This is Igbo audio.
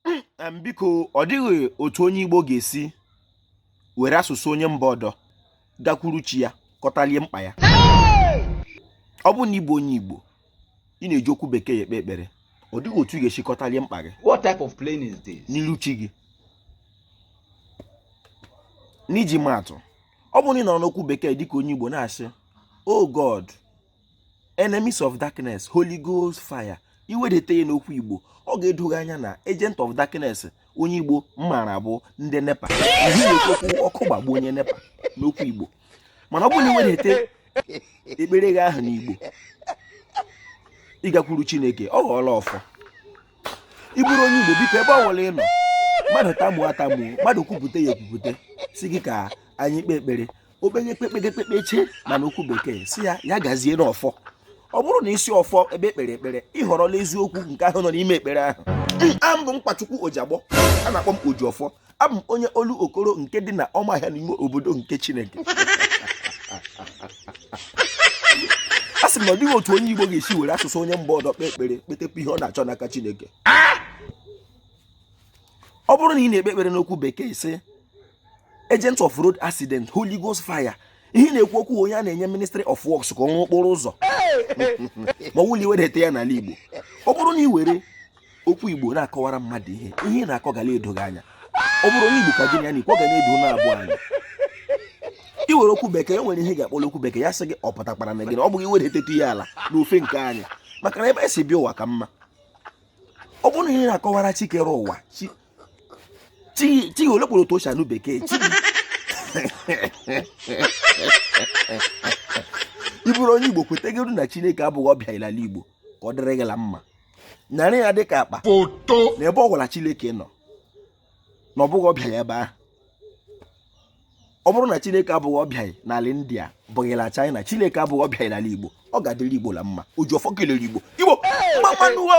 hmm, biko ọ dịghị otu onye Igbo ga-esi were asụsụ onye mba ọdọ gakwuru chi ya kọtalie mkpa ya ọ bụrụ na ị bụ onye Igbo ị na-eji okwu bekee ekpe ekpere ọ dịghị otu ị ga-esi kọtalie mkpa gị what type of playing is this n'iru chi gị n'iji ma atụ ọ bụ na ị nọrọ n'okwu bekee dịka onye Igbo na-asị oh God enemies of darkness holy ghost fire i wedata ya n'okwu igbo ọ ga-edo gị anya na agent of darkness onye igbo mara bụ ndị nepa ị na-ekwu ọkụ gbagbuo onye nepa n'okwu igbo mana ọ bụrụ na i wedata ekpere gị ahụ n'igbo ị gakwuru chineke ọ ghọọla ọfọ ị bụrụ onye igbo biko ebe ọ wụla ị nọ mmadụ tamuo atamuo mmadụ kwupụta ya ekwupụta sị gị ka anyị kpee ekpere o kpeye kpee kpee kpee kpechaa ma n'okwu bekee sị ya ya gazie n'ọfọ ọ bụrụ na i si ọfọ ekpe ekpere ekpere ị họrọla eziokwu nke ahụ nọ n'ime ekpere ahụ abụ m nkwachukwu ojiagbọ a na-akpọ m oji ọfọ abụ m onye olokoro nke dị na ụmụahịa n'ime obodo nke chineke a sị m na ọ dịghị otu onye igbo ga-esi were asụsụ onye mba ọdọ kpee ekpere kpetekwa ihe ọ na-achọ n'aka chineke ọ bụrụ na ị na-ekpe ekpere n'okwu bekee sị agent of road accident holy ghost fire ihe ị na-ekwu okwu onye a na-enye ministry of works ka ọ rụọ okporo ụzọ ma ọ wụrụ i wedata ya n'ala igbo ọ bụrụ na ị were okwu igbo na-akọwara mmadụ ihe ihe ị na-akọ gala edo gị anya ọ bụrụ onye igbo ka gị na ya na-ekwu ọ ga na-edo ụnụ abụọ anya i were okwu bekee e nwere ihe ị ga-akpọrọ okwu bekee ya sị gị ọ pụtakwara na gị na ọ bụghị i wedata ya ala n'ofe nke anyị maka na ebe e si bịa ụwa ka mma ọ bụrụ na ihe ị na-akọwara chi kere ụwa chi chi olokoro otu o si anụ bekee chi ị bụrụ onye igbo kwetegoro na chineke abụghị ọbịa n'ala igbo ka ọ dịrị gị la mma nyara ya dịka akpa foto na ebe ọ wụla chineke nọ na ọ bụghị ọbịa ya ebe ahụ ọ bụrụ na chineke abụghị ọbịa n'ala india abụghị na china chineke abụghị ọbịa n'ala igbo ọ ga-adịrị igbo la mma oji ọfọ kelere igbo igbo mma mma nụ wo